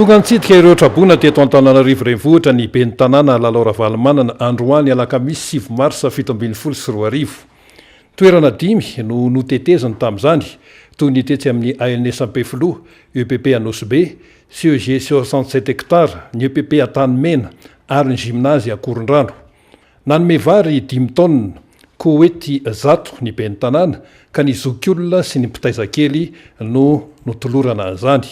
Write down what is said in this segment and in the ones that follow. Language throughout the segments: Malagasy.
Tonga nitsidika ireo traboina teto Antananarivo Renivohitra ny ben'ny Tanàna Lalao Ravalomanana androany alakamisy sivy marsa fito ambin'ny folo sy roa arivo. Toerana dimy no noteteziny tamin'izany toy ny tetsy amin'ny ANS Ampefiloha, epp Anosibe, CEG soixante sept hectares, ny epp Antanimena ary ny gymnase Akorondrano. Nanome vary dimy taonina, kowety zato ny ben'ny tanàna ka ny zokiolona sy ny mpitaiza kely no notolorana an'izany.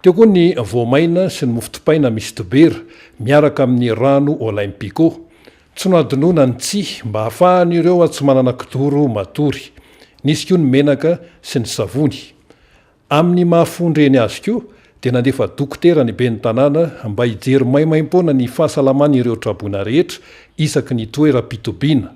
Teo koa ny voamaina sy ny mofo dipaina misy dibera miaraka amin'ny rano Olympico. Tsy nohadinoina ny tsihy mba hahafahan'ireo tsy manana kidoro matory. Nisy koa ny menaka sy ny savony. Amin'ny maha fon-dreny azy koa dia nandefa dokotera ny ben'ny tanàna mba hijery maimaimpoana ny fahasalaman'ireo traboina rehetra isaky ny toeram-pitobiana.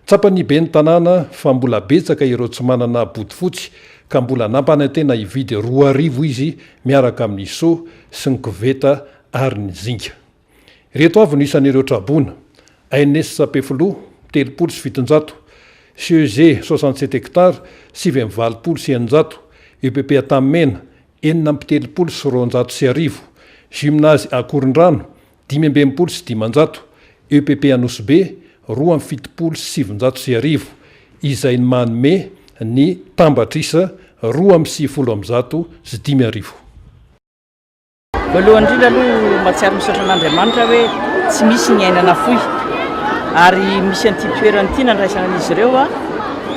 Tsapan'ny ben'ny tanàna fa mbola betsaka ireo tsy manana bodofotsy ka mbola nampanantena hividy roa arivo izy miaraka amin'ny seau sy ny koveta ary ny zinga. Ireto avy no isan'ireo traboina, Aines Sapefiloha, telopolo sy fitonjato, CEG, soixante-sept hectares, sivy amby valopolo sy eninjato, EPP Antanimena, enina amby telopolo sy roanjato sy arivo, Gymnase Ankorondrano, dimy amby enimpolo sy dimanjato, EPP Anosibe, roa amby fitopolo sy sivinjato sy arivo, izay manome ny tambatr'isa roa amby sivifolo amby zato sy dimy arivo. Voalohany indrindra aloha mahatsiaro misaotra an'Andriamanitra hoe tsy misy ny aina nafoy ary misy an'ity toerana ity nandraisana an'izy ireo a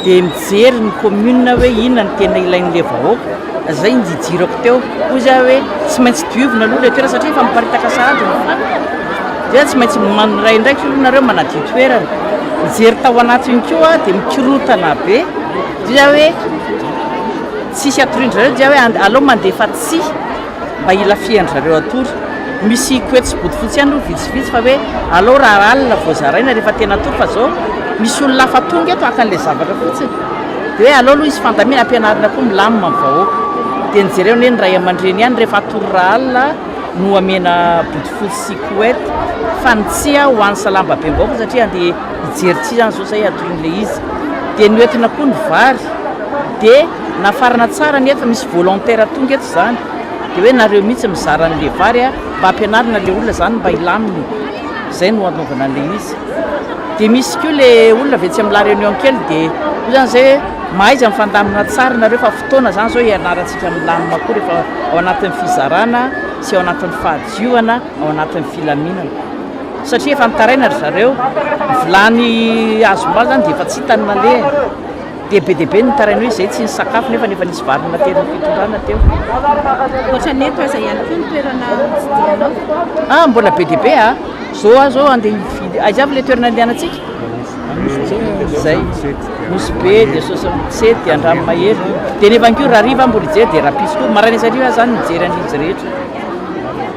dia mijery ny commune hoe inona ny tena ilain'ilay vahoaka izay ny jijirako teo hoy za hoe tsy maintsy diovina aloha ilay toerana satria efa miparitaka sahady ny fako dia tsy maintsy miray indraikitra aloha nareo manadio toerana mijery tao anatiny koa dia mikirotana be dia hoe tsisy atorian-dry zareo dia hoe alao mandefa tsihy mba hilafihan-dry zareo hatory. Misy koety sy bodofotsy ihany aloha vitsivitsy fa hoe alao raha alina vao zaraina rehefa tena hatory fa izao misy olona hafa tonga eto haka an'ilay zavatra fotsiny dia hoe alao aloha izy fandamina ampianarina koa milamina ny vahoaka. Dia ny jereo anie ny ray aman-dreny ihany rehefa hatory raha alina no hamena bodofotsy sy koety fa ny tsia ho an'ny salambabem-bahoaka satria handeha hijery tsia izany izao izay hatorin'ilay izy. Dia ny hoentina koa ny vary dia. Nafarana tsara anie efa misy volontaire tonga eto zany de hoe nareo mihitsy mizara anle vary a mba ampianarina le olona zany mba hilamina zay no anaovana anle izy de misy ko le olona avy etsy amla reunion kely de io zany zay hoe mahaiza mifandamina tsara nareo fa fotoana zany zao hianarantsika milamina koa refa ao anatiny fizarana sy ao anatiny fahadiovana ao anatiny filaminana satria efa nitaraina ry zareo ny vilany azom-bary zany de efa tsy hitany nalehany. Dia be dia be ny nitaraina hoe izay tsy nisakafo nefa efa nisy vary nonateran'ny fitondrana teo. Ankoatra ny eto, aiza ihany koa ny toerana hividiananao? Ah, mbola be dia be a! Izao aho izao handeha hividy, aiza avy ilay toerana andehanantsika? Izay, Nosy Be, dia Soasantsisety, dia Andranomahery. Dia ny evankiora hariva aho mbola hijery, dia rahampitso koa. Maraina sy hariva aho izany mijery an'izy rehetra.